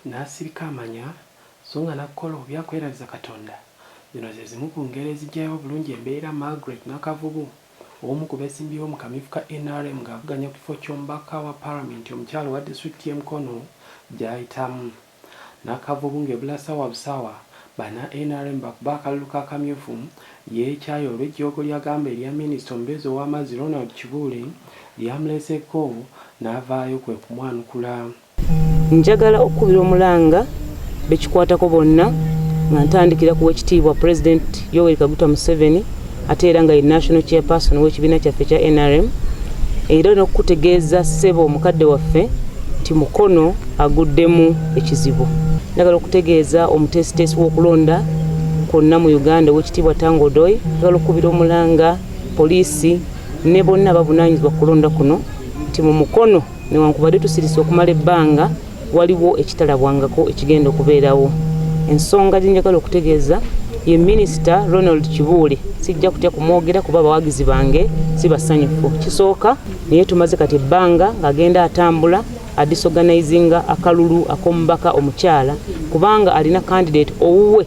n'asirika amanya so nga n'akukola obubi akwerabiza Katonda. Zino ze zimu ku ngero eziggyayo obulungi embeera Margaret Nakavubu, omu ku beesimbyewo mu kamyufu ka nrm ng'avuganya ku kifo ky'omubaka wa Palamenti omukyala owa disitulikiti y'e Mukono gy'ayitamu. Nakavubu ng'ebula ssaawa busaawa banna nrm bakube akalulu ka kamyufu yeekyaye olw'ejjoogo ly'agamba erya minisita omubeezi ow'amazzi Ronald Kibuule lyamuleseeko n'avaayo kwe kumwanukula. Njagala okukubira omulanga bekikwatako bonna nga ntandikira ku wekitiibwa President Yoweri Kaguta Museveni ate era nga ye National Chairperson w'ekibiina kyaffe kya NRM era n'okukutegeeza ssebo omukadde waffe nti Mukono aguddemu ekizibu. Njagala okutegeeza omuteesiteesi w'okulonda kwonna mu Uganda ow'ekitiibwa Tango Odoi, njagala okukubira omulanga poliisi ne bonna abavunaanyizibwa ku kulonda kuno nti mu Mukono Newankubadde tusirise okumala ebbanga, waliwo ekitalabwangako ekigenda okubeerawo. Ensonga gye njagala okutegeeza ye minisita Ronald Kibuule sijja kutya kumwogera kuba abawagizi bange si basanyufu. Kisooka naye tumaze kati ebbanga ng'agenda atambula adisorganizinga akalulu ak'omubaka omukyala kubanga alina kandidate owuwe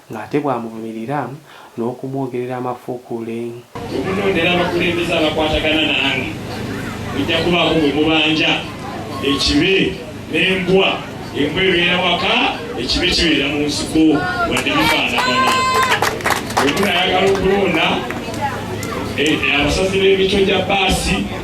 ng'ate bw'amuvumirira n'okumwogerera amafuukuule. Okunondera abakulembeze abakwatagana nange mujja kubaako gwe mubanja ekibe n'embwa, embwa ebeera waka, ekibe kibeera mu nsiko wadde bifaanagana. Bwe munayagala okulonda abasazi b'emito gya bbaasi.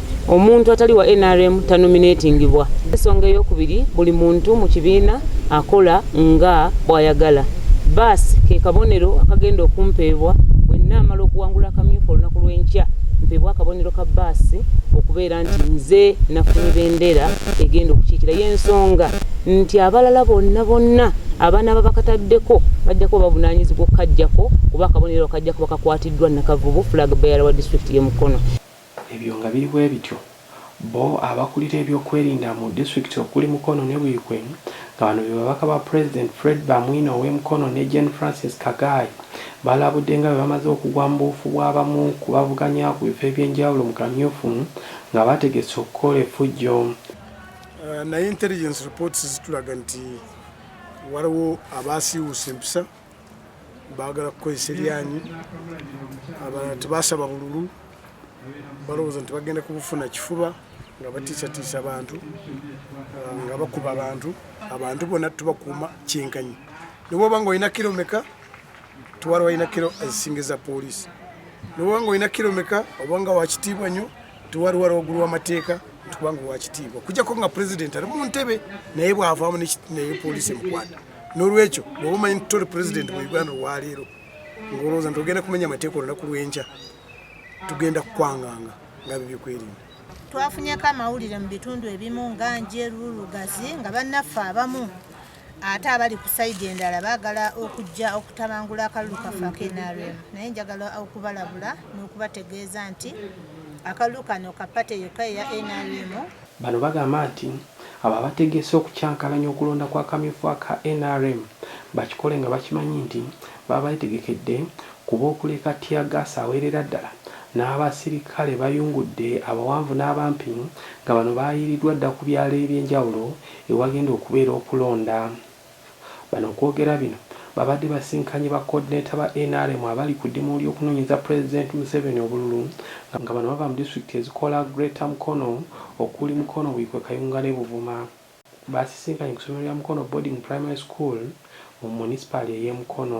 omuntu atali wa nrm tanominatingibwa ensonga eyokubiri buli muntu mu kibiina akola nga bwayagala baasi ke kabonero akagenda okumpeebwa bwenna amala okuwangula akamyufu olunaku lw'enkya mpeebwa akabonero ka baasi okubeera nti nze nafunye bendera egenda okukiikira y'ensonga nti abalala bonna bonna abaana babakataddeko bajja kuba bavunaanyizibwa okukajjako kuba akabonero kajja kuba kakwatiddwa nakavubu flag bearer wa disitulikiti ye mukono Ebyo nga biri bwebityo, bbo abakulira ebyokwerinda mu disitulikiti okuli Mukono ne Buikwe nga bano be babaka ba pulezidenti Fred Bamwine ow'e Mukono ne Jane Francis Kagaayi balabudde nga bwe bamaze okugwa mu buufu bw'abamu ku bavuganya ku bifo eby'enjawulo mu kamyufu nga bategese okukola effujjo naye intelligence reports zitulaga nti waliwo abaasiiwuuse empisa. bagala kukozesa eryanyi abalala tebasaba bululu balowooza nti bagenda kubufuna kifuba nga batiisatiisa abantu ah, nga bakuba abantu abantu bona tubakuuma kyenkanyi newaba nga olina kiro meka twala walina kiro ezisinga eza poliisi newaba nga olina kiro meka obanga wakitiibwa nnyo twali wala ogulu wamateeka nti kubanga wakitiibwa kujjako nga pulezidenti ali mu ntebe naye bwavaamu naye poliisi emukwata n'olwekyo bwoba omanyi nti toli pulezidenti mu uganda olwaleero ngaolowooza nti ogenda kumenya amateeka olunaku lwenkya tugenda kukwanganga nga bibyokwerinda twafunyeko amawulire mu bitundu ebimu nga njeru lugazi nga bannaffe abamu ate abali ku saidi endala baagala okujja okutabangula akalulu kaffe akenrm naye njagala okubalabula n'okubategeeza nti akalulu kano kapate yokka eya nrm Bano bagamba nti abo abategese okukyankalanya okulonda kw'akamyufu aka nrm bakikole nga bakimanyi nti baba betegekedde kuba okuleeka tear gas awerera ddala n'abasirikale bayungudde abawanvu n'abampi nga bano bayiiriddwa dda ku byalo eby'enjawulo ewagenda okubeera okulonda. Bano okwogera bino babadde basinkanye ba coordinator ba nrm abali ku dimu ly'okunonyeza president Museveni obululu nga bano bava mu district ezikola greater Mukono okuli Mukono, Buikwe, Kayunga ne Buvuma. Basisinkanye ku somero lya Mukono boarding primary school mu munisipaali ey'e Mukono.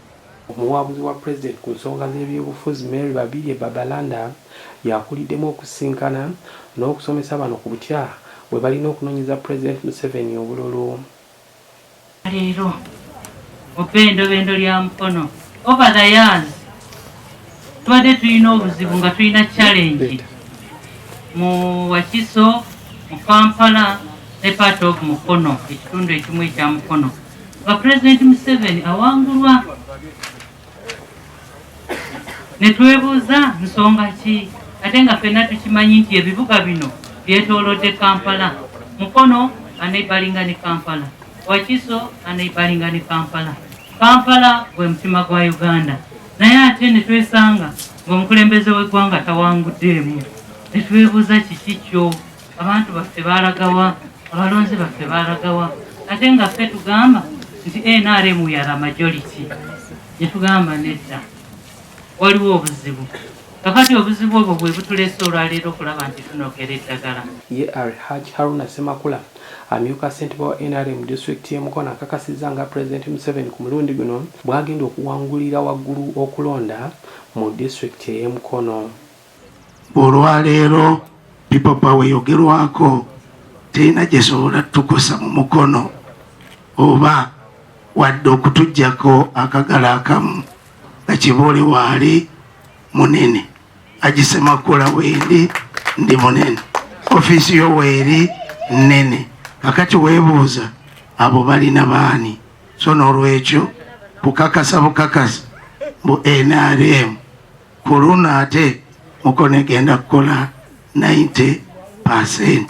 Omuwabuzi wa Pulezidenti ku nsonga z'ebyobufuzi Mary Babirye Babalanda y'akuliddemu okusisinkana n'okusomesa bano ku butya bwe balina okunonyeza Pulezidenti Museveni obululu. leero obbendobendo lya Mukono over the years tubadde tulina obuzibu nga tulina challenge mu Wakiso mu Kampala ne part of Mukono ekitundu ekimu ekya Mukono nga Pulezidenti Museveni awangulwa ne twebuuza nsonga ki ate nga ffenna tukimanyi nti ebibuga bino byetoolodde Kampala Mukono aneibalinga ne Kampala Wakiso aneibalinga ne Kampala Kampala gwe mutima gwa Uganda naye ate ne twesanga ng'omukulembeze w'eggwanga tawanguddeemu ne twebuuza kiki kyo abantu baffe balagawa abalonzi baffe balagawa ate nga ffe tugamba nti nrm yara majority netugamba nedda waliwo obuzibu kakati obuzibu obwo bwe butulese olwaleero okulaba nti tunogera eddagala ye ar haj haruna semakula amyuka ssentebe wa nrm disitulikiti y'e mukono akakasizza nga pulezidenti museveni ku mulundi guno bw'agenda okuwangulira waggulu okulonda mu disitulikiti ey'e mukono Olwaleero People Power eyogerwako terina gyesobola tukosa mu mukono oba wadde okutujjako akagala akamu nga kiboole waali munene agisemakula wendi ndi munene ofiisi yo weeri nnene kakati weebuuza abo balina baani so n'olwekyo kukakasa bukakasa bu nrm ku luno ate mukono egenda kukola 90 percent